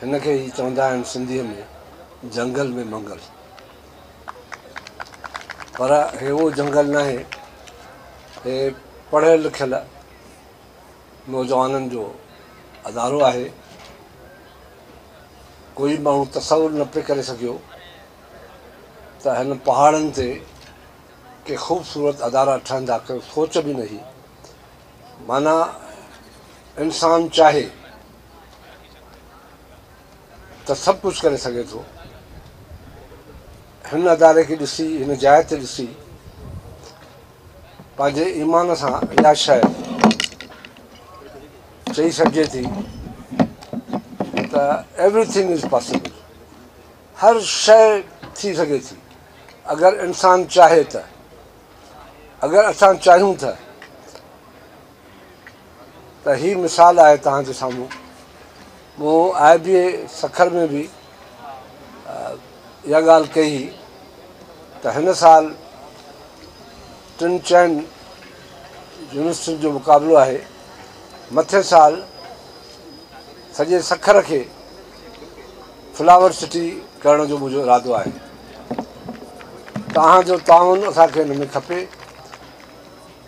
هن کي ئي چوندا آهن سنڌيء ۾ جهنگل ۾ منگل. پر هي اهو جهنگل ناهي، هي پڙهيل لکيل نوجوانن جو ادارو آهي. ڪوئي ماڻهو تصور نه پئي ڪري سگهيو ته هن پهاڙن تي ڪي خوبصورت ادارا ٺهندا، ڪو سوچ به نه هئي. معنيٰ انسان چاهي. ته سڀ ڪجهه ڪري سگهي ٿو. هن اداري کي ڏسي، هن جاء تي ڏسي، پنهنجي ايمان سان اها شيء چئي سگهجي ٿي ته ايوري ٿنگ از پاسبل. هر شيء ٿي سگهي ٿي. اگر انسان چاهي ته. اگر اسان چاهيون ته. ته هي مثال آهي توهان جي سامهون. مون آء بي اي سکر ۾ به اها ڳالهه ڪئي هئي ته هن سال ٽن چئن يونيورسٽين جو مقابلو آهي. مٿين سال سڄي سکر کي فلاور سٽي ڪرڻ جو منهنجو ارادو آهي. توهان جو تعاون اسان کي ان ۾ کپي.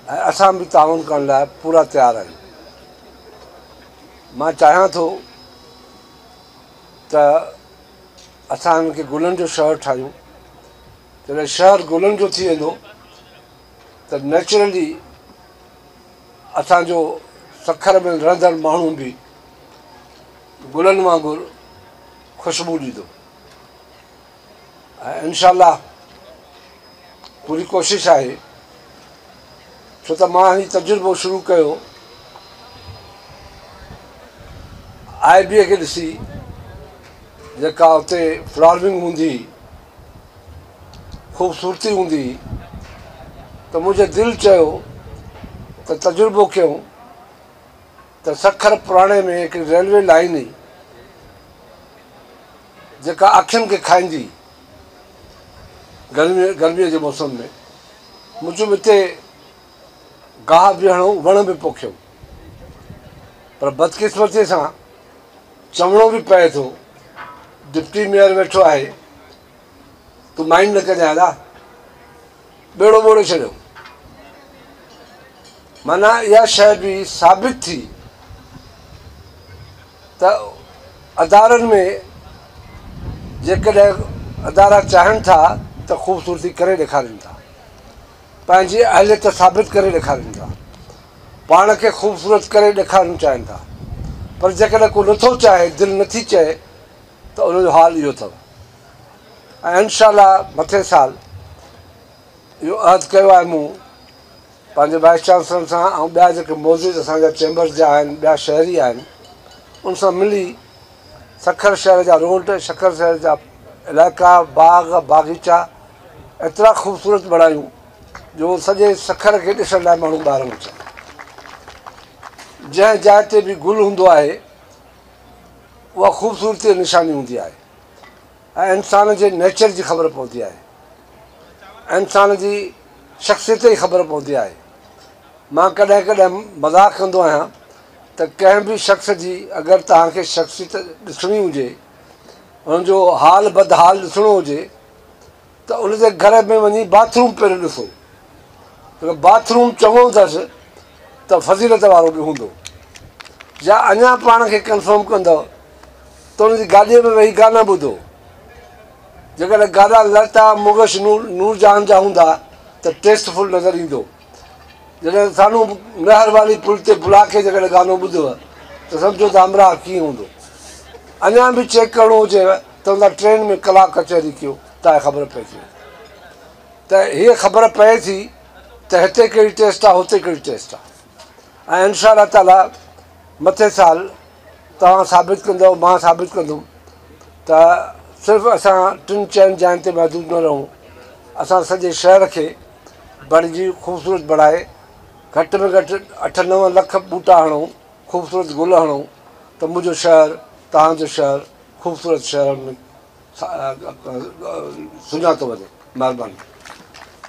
۽ اسان به تعاون ڪرڻ لاء پورا تيار آهيون. مان چاهيان ٿو ته اسان هن کي گلن جو شهر ٺاهيون. جڏهن شهر گلن جو ٿي ويندو ته نيچرلي اسان جو سکر ۾ رهندڙ ماڻهو به گلن وانگر خوشبو ڏيندو. ۽ انشاء الله پوري ڪوشش آهي ڇو ته مان هي تجربو شروع ڪيو آء بي کي ڏسي جيڪا اتي فلارمنگ هوندي خوبصورتي هوندي ته منهنجي دل چيو ته تجربو ڪيون ته سکر پراڻي ۾ هڪ ريلوي لائين هئي جيڪا اکين کي کائيندي گرمي گرميء جي موسم ۾. مون چيم اتي گاهه به هڻو وڻ به پوکيون پر بدقسمتيء سان چوڻو به پئي ٿو ڊپٽي ميئر ويٺو آهي تون مائنڊ نه ڪجانء ادا ٻيڙو ٻوڙي ڇڏيو معنيٰ اها شيء به ثابت ٿي ته ادارن ۾ جيڪڏهن ادارا چاهن ٿا ته خوبصورتي ڪري ڏيکارين ٿا پنهنجي اهليت ثابت ڪري ڏيکارين ٿا پاڻ کي خوبصورت ڪري ڏيکارڻ چاهين ٿا پر جيڪڏهن ڪو نٿو چاهي دل نٿي چئي ته ان جو حال اهو اٿو انشاء الله مٿين سال اهو عهد ڪيو آهي مون پنهنجي وائيس چانسلرن سان ۽ ٻيا جيڪي موجود اسان جا چيمبرز جا آهن ٻيا شهري آهن ان سان ملي سکر شهر جا روڊ سکر شهر جا علائقا باغ باغيچا ايترا خوبصورت بڻايون جو سڄي سکر کي ڏسڻ لاء ماڻهو ٻاهران اچن جنهن جاء تي به گل هوندو آهي اها خوبصورتي نشاني هوندي آهي ۽ انسان جي نيچر جي خبر پوندي آهي انسان جي شخصيت جي خبر پوندي آهي مان ڪڏهن ڪڏهن مذاق ڪندو آهيان ته ڪنهن به شخص جي اگر توهان کي شخصيت ڏسڻي هجي ان جو حال بدحال ڏسڻو هجي ته ان جي گهر ۾ وڃي باٿ روم پهرين ڏسو اگر باٿ روم چڱو اٿس ته فضيلت وارو به هوندو يا اڃا پاڻ کي ڪنفرم ڪندو ته ان جي گاڏيء ۾ ويهي گانا ٻڌو جيڪڏهن گانا لتا منگيشنور نورجهان جا هوندا ته ٽيسٽ فل نظر ايندو جڏهن ساڻو مهر واري پل تي بلا کي جيڪڏهن گانو ٻڌوء ته سمجهو ته همراهه ڪيئن هوندو. اڃا به چيڪ ڪرڻو هجيو ته اوندانهن ٽرين ۾ ڪلاڪ ڪچهري ڪيو تانهن خبر پئجي وڃي ته هيء خبر پئي ٿي ته هتي ڪهڙي ٽيسٽ آ هتي ڪهڙي ٽيسٽ آ ۽ انشاء الله تعاليٰ مٿين سال توهان ثابت ڪندؤ مان ثابت ڪندم ته صرف اسان ٽن چئن جاين تي محدود نه رهون اسان سڄي شهر کي بڻجي خوبصورت بڻائي گهٽ ۾ گهٽ اٺ نو لک ٻوٽا هڻو خوبصورت گل هڻو ته منهنجو شهر توهانجو شهر خوبصورت شهر سڃاتو وڃي مهرباني